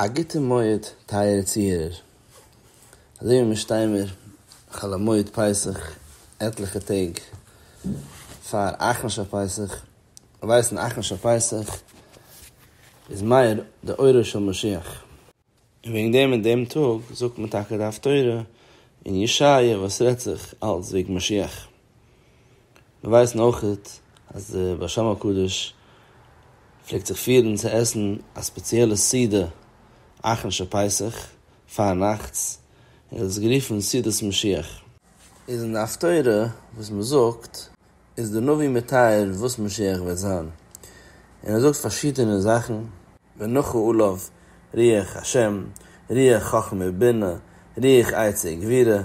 א גוטע מועד טייערע צוהערער. אזוי ווי מיר שטיי מיר חול המועד פסח עטליכע טעג פאר אחרון של פסח, מיר ווייסן אחרון של פסח איז מאיר די אורו של משיח, און וועגן דעם אין דעם טאג זאגט מען טאקע די הפטורה אין ישעיה וואס רעדט זיך אלס וועגן משיח, מיר ווייסן אויכעט אז די בעל שם הקדוש פלעגט זיך פירן צו עסן א ספעציעלע סעודה אכן שפסח פארנאכטס, און ער האט עס גערופן סעודת משיח. איז אין די הפטורה וואס מען זאגט איז דער נביא מתאר וואס משיח וועט זיין, און ער זאגט פארשידענע זאכן. ונחה עליו, רוח השם, רוח חכמה ובינה, רוח עצה וגבירה,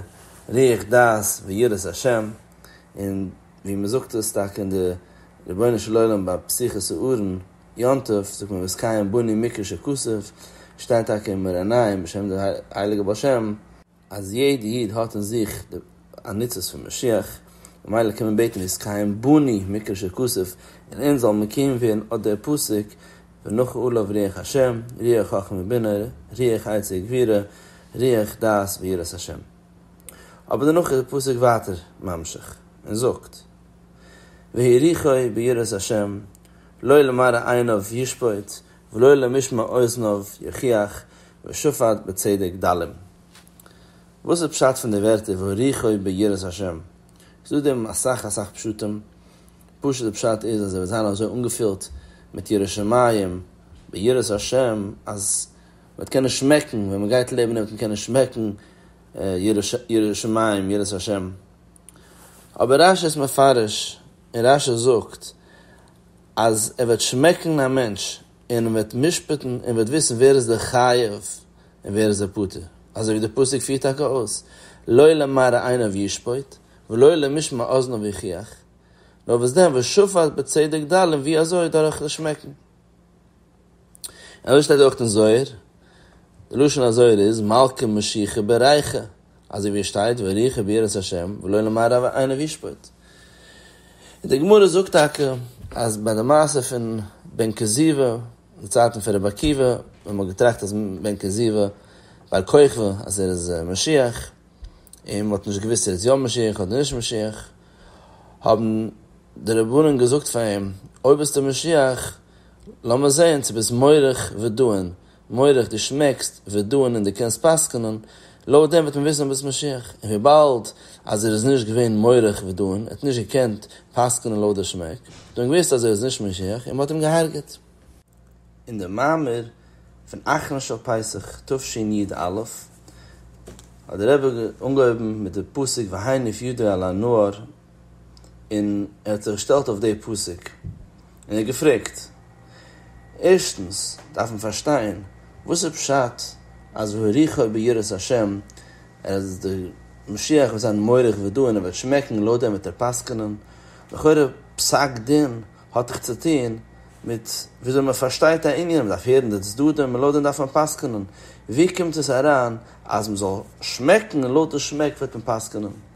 רוח דעת ויראת השם, און ווי מען זאגט עס טאקע אין די רבונו של עולם ביי פסח'ס אהרן יום טוב זאגט מען וזקיים בני מקרא שכסף, שטייט טאקע אין מרניים בשם די הייליגע בעל שם, אז יעדע איד האט אין זיך די עניצות פון משיח, ממילא קען מען בעטן איז קיים בני מקרא שכסוף און אונז זאל מקיים ווערן אט דער פסוק ונחה עליו רוח השם, רוח חכמה ובינה, רוח עצה וגבירה, רוח דעת ויראת השם. אבער דערנאך איז דער פסוק ווייטער ממשיך און זאגט והאריכו ביראת השם לא למראה עיניו ישפוט ולא למשמע אוזניו יוכיח ושפט בצדק דלים. וואס איז פשט פון די ווערטער והוריכו ביראת השם? ס'איז דא דערין אסאך אסאך פשטים, פשוט די פשט איז אז ער וועט זיין אזוי אנגעפילט מיט יראת שמים ביראת השם אז מ'וועט קענען שמעקן ווען מ'גייט לעבן וועט מען קענען שמעקן יראת שמים יראת השם. אבער רשי איז מפרש און רשי זאגט. אז ער וועט שמעקן א מענטש און אים וועט משפט'ן און וועט וויסן ווער איז דער חייב און ווער איז דער פטור, אזוי ווי דער פסוק פירט טאקע אויס, לא למראה עיניו ישפוט, ולא למשמע אזניו יוכיח, נאר וואס דען, ושפט בצדק ד' און ווי אזוי, דורך דאס שמעקן. אזוי שטייט אויך אין זוהר, די לשון הזוהר איז מלכה משיחה בריחה, אזוי ווי עס שטייט וריחה ביראת השם ולא למען רב עיניו ישפוט. און די גמרא זאגט טאקע אז ביי די מעשה פון בן כוזיבא, די צייטן פון רבי עקיבא, ווען מ'האט געטראכט אז בן כוזיבא בר כוכבא אז ער איז משיח, און מ'האט נישט געוואוסט ער איז יא משיח אדער נישט משיח, האבן די רבנן געזאגט פאר אים, אויב ביסטו משיח, לאמיר זעהן צו ביסט מוריך ודען, מוריך דו שמעקסט, ודען און דו קענסט פסק'נען, לויט דעם וועט מען וויסן אז ביסט משיח, און וויבאלד אז ער איז נישט געווען מוריך ודען, ער האט נישט געקענט פסק'נען לויט די שמעק, האט מען געוויסט אז ער איז נישט משיח און מען האט אים גע'הרג'עט. אין די מאמר פון אחרון של פסח תשנ י א האט דער רבי אנגעהויבן מיט די פסוק והיינף ידו אל הנער, און ער האט זיך געשטעלט אויף די פסוק און ער האט געפרעגט, ערשטנס דארף מען פארשטיין וואס איז פשט אז והריחו ביראת השם, אז די משיח וועט זיין מאריך ודו און ער וועט שמעקן לויט דעם וועט ער פסק'נען, לכאורה פסק דין האט דאך צו טון מיט וויאזוי מען פארשטייט א ענין, מען דארף הערן די צדדים און לויט דעם דארף מען פסק'נען, ווי קומט עס אריין אז מען זאל שמעקן און לויט די שמעק וועט מען פסק'נען?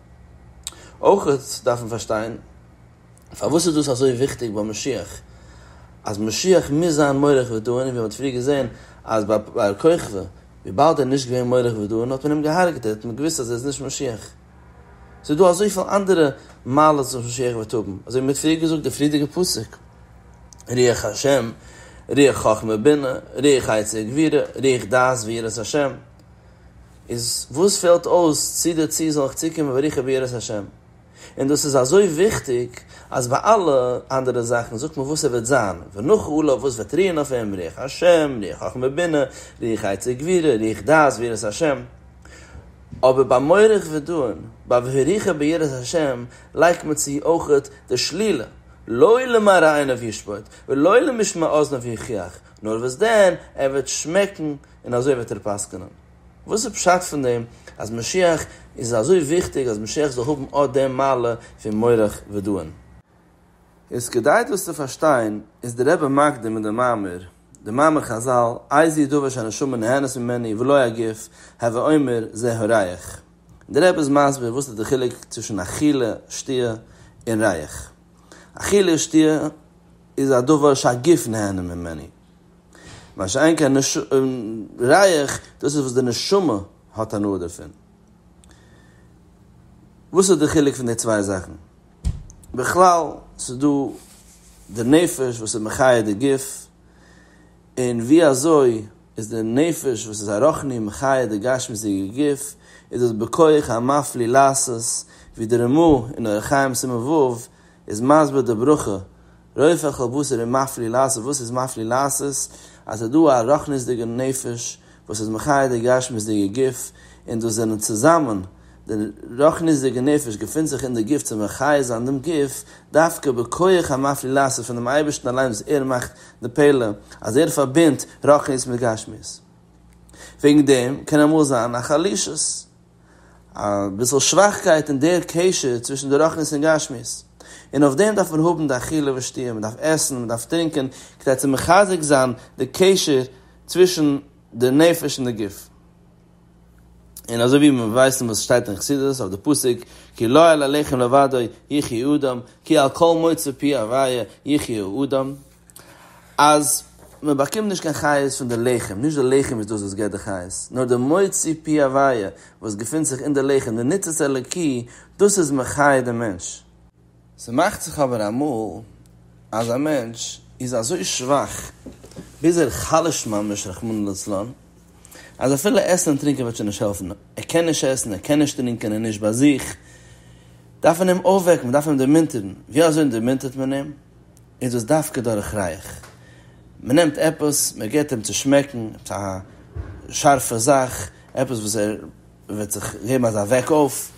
אויך דארף מען פארשטיין פארוואס איז דאס אזוי וויכטיג ביי משיח, אז משיח מוז זיין מורך ודוען, ווי מען האט פריער געזען אז ביי בר כוכבא וויבאלד ער איז נישט געווען מורך ודוען האט מען אים געהארגעט, האט מען געוואוסט אז ער איז נישט משיח. ס'איז דא אזויפיל אנדערע מעלות וואס משיח וועט האבן, אזוי ווי מען האט פריער געזאגט די פריערדיגע פסוק, רוח השם, רוח חכמה בינה, רוח עצה וגבירה, רוח דעת ויראת השם. איז וואס פעלט אויס צו די צו זאל איך צוקומען בריחה ביראת השם? און דאס איז אזוי וויכטיג אז ביי אלע אנדערע זאכן זאגט מען וואס ער וועט זיין, ונחה עליו וואס וועט רוען אויף אים, רוח השם, רוח חכמה בינה, רוח עצה גבירה, רוח דעת ויראת השם, אבער ביי מוריך ודוען, ביי והריחה ביראת השם, לייגט מען צו אויכעט די שלילה, לא למראה עיניו ישפוט, ולא למשמע אזניו יוכיח, נאר וואס דען, ער וועט שמעקן און אזוי וועט ער פסק'נען. וואס איז פשט פון דעם אז משיח איז אזוי וויכטיג אז משיח זאל האבן אט דעם מעלה פון מורך ודוען? איז כדי דאס צו פארשטיין איז דער רבי מקדים אין דעם מאמר דעם מאמר חזל איז היא דבר שהנשמה נהנית ממנו ולא הגוף, הווי אומר זה הריח. דער רבי איז מסביר וואס איז דער חילוק צווישן אכילה, שתיה, און ריח. אכילה, שתיה, איז א דבר שהגוף נהנה ממנו. מה שאין כן ריח, דאס איז וואס די נשמה האט הנאה דערפון. וואס איז די חילוק פון די צוויי זאכן? בכלל, ס'איז דא די נפש וואס איז מחיה די גוף, און ווי אזוי איז די נפש וואס איז א רחני מחיה די גשמיות'דיגע גוף, איז דאס בכח המפליא לעשות, ווי די רמא אין אורח חיים סימן ו' איז מסביר די ברכה, רופא כל בשר און מפליא לעשות, וואס איז מפליא לעשות? אז ס'איז דא א רחניות'דיגע נפש וואס איז מחיה די גשמיות'דיגע גוף, און דאס זענען צוזאמען, די רחניות'דיגע נפש געפינט זיך אין די גוף צו מחיה זיין דעם גוף, דווקא בכח המפליא לעשות פון דעם אייבערשטן אליין וואס ער מאכט די פלא אז ער פארבינדט רחניות מיט גשמיות. וועגן דעם קען אמאל זיין א חלישות. אביסל שוואכקייט אין דער קשר צווישן די רוחנית און גשמיות, און אויף דעם דארף מען האבן די אכילה ושתיה, מען דארף עסן, מען דארף טרינקען, כדי צו מחזק זיין די קשר צווישן די נפש און די גוף. און אזוי ווי מיר ווייסן וואס שטייט אין חסידות אויף די פסוק, כי לא על הלחם לבדו יחיה אדם, כי על כל מוצא פי הוויה יחיה אדם, אז מען באקומט נישט קיין חיות פון די לחם, נישט די לחם איז דאס וואס געבט די חיות, נאר די מוציא פי הוויה וואס געפינט זיך אין די לחם, די ניצוץ אלוקי, דאס איז מחיה די מענטש. ס'מאכט זיך אבער אמאל אז א מענטש איז אזוי שוואך, ביז ער חלש'ט ממש רחמנא לצלן, אז אפילו עסן און טרינקען וועט שוין נישט העלפן, ער קען נישט עסן, ער קען נישט טרינקען, ער איז נישט ביי זיך, דארף מען אים אויפוועקן, מען דארף אים דערמונטערן, ווי אזוי דערמונטערט מען אים? איז דאס דווקא דורך רייך? מען נעמט עפעס, מען געבט אים צו שמעקן, עפעס א שארפע זאך, עפעס וואס ער וועט זיך געבן אזא וועק אויף.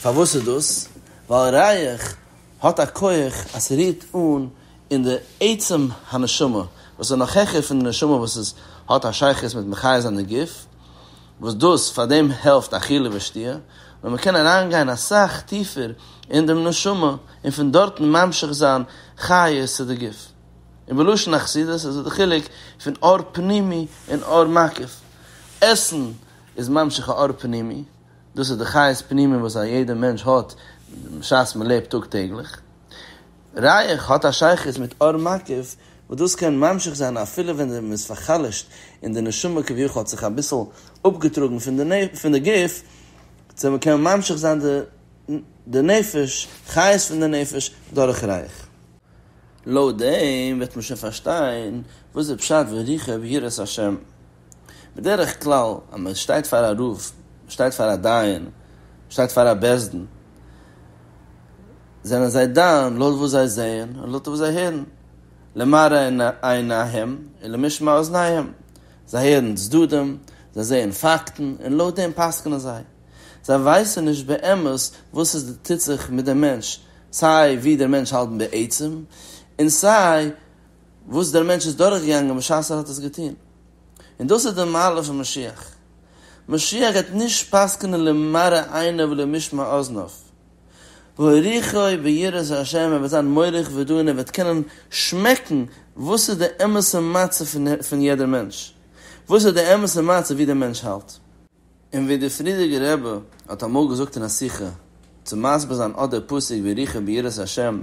פארוואס איז דאס? ווייל רייך האט א כח אז ס'רירט אן אין די עצם הנשמה, וואס איז נאך העכער פון די נשמה וואס איז האט א שייכות מיט מחיה זיין די גוף, וואס דאס פאר דעם העלפט אכילה ושתיה, נאר מען קען אריינגיין אסאך טיפער אין דעם נשמה און פון דארטן ממשיך זיין חיות צו די גוף. און בלשון החסידות איז דא די חילוק פון אור פנימי און אור מקיף. עסן איז ממשיך א אור פנימי, דאס איז די חיות פנימיים וואס א יעדער מענטש האט בשעת מען לעבט טאג טעגליך. רייך האט א שייכות מיט אור מקיף וואס דאס קען ממשיך זיין אפילו ווען מען איז פאר'חלש'ט און די נשמה כביכול האט זיך אביסל אפגעטראגן פון די גוף, צו מען קען ממשיך זיין די נפש, חיות פון די נפש, דורך רייך. לויט דעם וועט מען שוין פארשטיין וואס איז פשט וריחו ביראת השם. בדרך כלל אז מען שטייט פאר א רב, מען שטייט פאר א דיין, מען שטייט פאר א בית דין, זענען זיי דן לויט וואס זיי זעען און לויט וואס זיי הערן, למראה עיניהם ולמשמע אזניהם, זיי הערן צדדים, זיי זעען פאקטן און לויט דעם פסק'נען זיי. זיי ווייסן נישט באמת וואס עס טוט זיך מיט דעם מענטש, סיי ווי דער מענטש האלט בעצם און סיי וואס דער מענטש איז דורכגעגאנגען בשעת ער האט עס געטון. און דאס איז די מעלה פון משיח. משיח גייט נישט פסק'נען למראה עיניו ולמשמע אזניו. והוריכו ביראת השם ער וועט זיין מוריך ודן ער וועט קענען שמעקן וואס איז די אמת'ע מצב פון יעדער מענטש. וואס איז די אמת'ע מצב ווי דער מענטש האלט. און ווי דער פרידיגער רבי האט אמאל געזאגט אין א שיחה צו מסביר זיין אט דער פסוק וריחו ביראת השם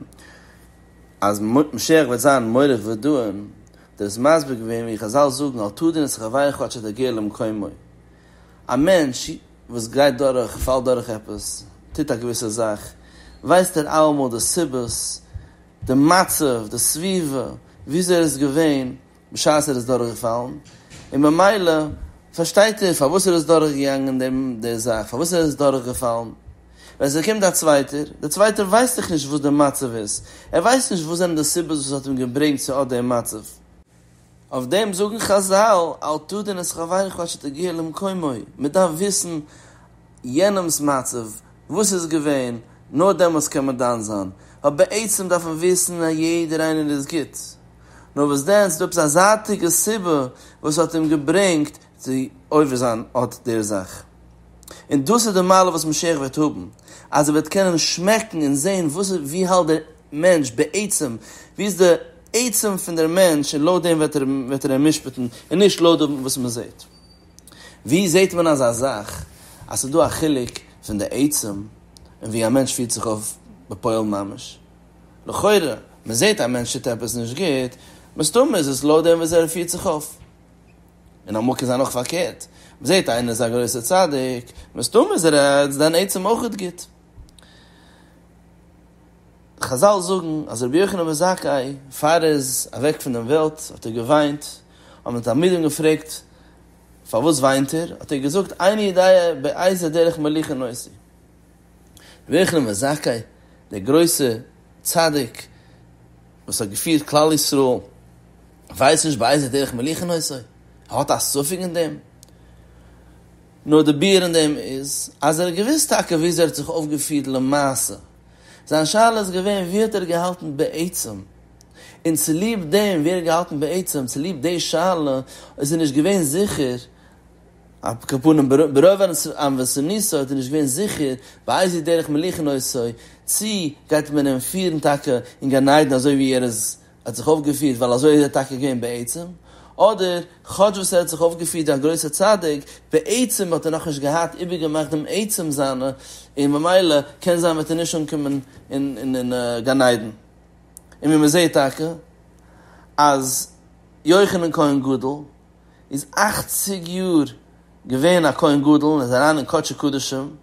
אז משיח וועט זיין מוריך ודוען, דער איז מסביר געווען ווי חזל זאגן אל תדון את חברך עד שתגיע למקומו, א מענטש וואס גייט דורך, פאלט דורך עפעס, טוט א געוויסע זאך, ווייסט ער אלעמאל די סיבות, די מצב, די סביבה, וויאזוי ער איז געווען, בשעת ער איז דורכגעפאלן, און ממילא פארשטייט ער פארוואס ער איז דורכגעגאנגען דעם דער זאך, פארוואס ער איז דורכגעפאלן. ווען ס'קומט א צווייטער, דער צווייטער ווייסט דאך נישט וואס דער מצב איז, ער ווייסט נישט וואס זענען די סיבות וואס האט אים געברענגט צו אט דעם מצב. אויף דעם זאגן חזל, אל תדון את חברך עד שתגיע למקומו, מען דארף וויסן יענעמ'ס מצב, וואס ס'איז געווען, נאר דעמאלטס קען מען דן זיין. ווייל בעצם דארף מען וויסן אז יעדער איינער איז גוט. נאר וואס דען, ס'איז דא עפעס א זייטיגע סיבה וואס האט אים געברענגט צו עובר זיין אט דער זאך. און דאס איז די מעלה וואס משיח וועט האבן, אז ער וועט קענען שמעקן און זען וואס איז, ווי האלט דער מענטש בעצם, ווי איז די עצם פון דער מענטש, און לויט דעם וועט ער אים משפט'ן, און נישט לויט דעם וואס מען זעט. ווי זעט מען אזא זאך, אז ס'איז דא א חילוק פון די עצם, און ווי א מענטש פירט זיך אויף בפועל ממש? לכאורה, מען זעט א מענטש טוט עפעס נישט גוט, מסתמא איז עס לויט דעם וויאזוי ער פירט זיך אויף. און אמאל קען זיין אויך פארקערט, מען זעט איינער איז א גרויסער צדיק, מסתמא איז ער עטץ דיין עצם אויך גוט. חזל זאגן אז רבי יוחנן בן זכאי פאר ער איז אוועק פון דעם וועלט האט ער געוויינט, האבן די תלמידים געפרעגט פארוואס וויינט ער, האט ער געזאגט עיני דאיה בעיזה דרך מליחה נושא. רבי יוחנן בן זכאי דער גרויסער צדיק וואס האט געפירט כלל ישראל ווייסט נישט באיזה דרך מליכין נושא ער האט א ספק אין דעם נאר די ביאור אין דעם איז אז ער האט געוואוסט טאקע וויאזוי ער האט זיך אויפגעפירט למעשה זיין שאלה איז געווען ווי האט ער געהאלטן בעצם און צוליב דעם ווי ער האט געהאלטן בעצם צוליב די שאלה איז ער נישט געווען זיכער על כל פנים ברוב אנוועסעניסו האט ער נישט געווען זיכער באיזה דרך מליכין עושו, צי גייט מען אים פירן טאקע אין גן עדן אזוי ווי ער איז האט זיך אויפגעפירט ווייל אזוי איז ער טאקע געווען בעצם, אדער כאטש וואס ער האט זיך אויפגעפירט ווי א גרויסער צדיק, בעצם האט ער נאכנישט געהאט איבערגעמאכט דעם עצם זיינע און ממילא קען זיין וועט ער נישט אנקומען אין גן עדן. און ווי מ'זעהט טאקע אז יוחנן כהן גדול איז אכציג יאר געווען א כהן גדול און איז אריין אין קדשי קדשים,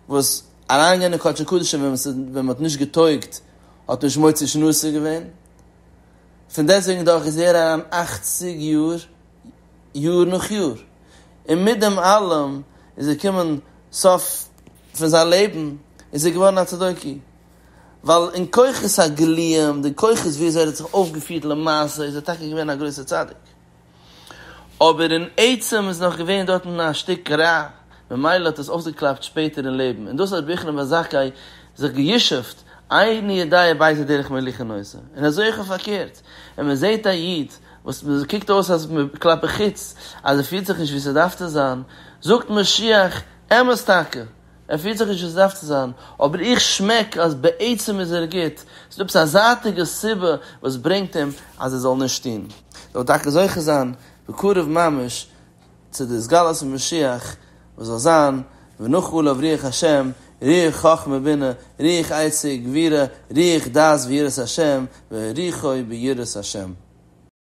וואס אריינגיין אין קדשי קדשים ווען מען איז ווען מען האט נישט געטויגט האט נישט מוציא שנה אסור געווען, פון דעסטוועגן דאך איז ער אריין אכציג יאר יאר נאך יאר, און מיט דעם אלעם איז געקומען סוף פון זיין לעבן איז ער געווארן א צדוקי, ווייל אין כוחות הגליים, די כוחות ווי אזוי ער האט זיך אויפגעפירט למעשה איז ער טאקע געווען א גרויסער צדיק. אבער אין עצם איז נאך געווען דארטן א שטיק רע, ממילא האט עס אויסגעקלאפט שפעטער אין לעבן, און דאס האט רבי יוחנן בן זכאי זיך גע'ישוב'ט, עיין ידיה בייזע דרך מליחה נושא, און אזוי אויך פארקערט, ווען מען זעט א איד וואס קוקט אויס אז כלפי חוץ אז ער פירט זיך נישט ווי ס'דארף צו זיין, זאגט מען שיח, אמת טאקע, ער פירט זיך נישט ווי ס'דארף צו זיין, אבער איך שמעק אז בעצם איז ער גוט, ס'איז דא עפעס א זייטיגע סיבה וואס ברענגט אים אז ער זאל נישט טון, ער וויל טאקע זוכה זיין בקרוב ממש צו די התגלות פון משיח וואס זאל זיין ונח עליו רוח השם, רוח חכמה בינה, רוח עצה גבירה, רוח דעת ויראת השם, ורוחו ביראת השם.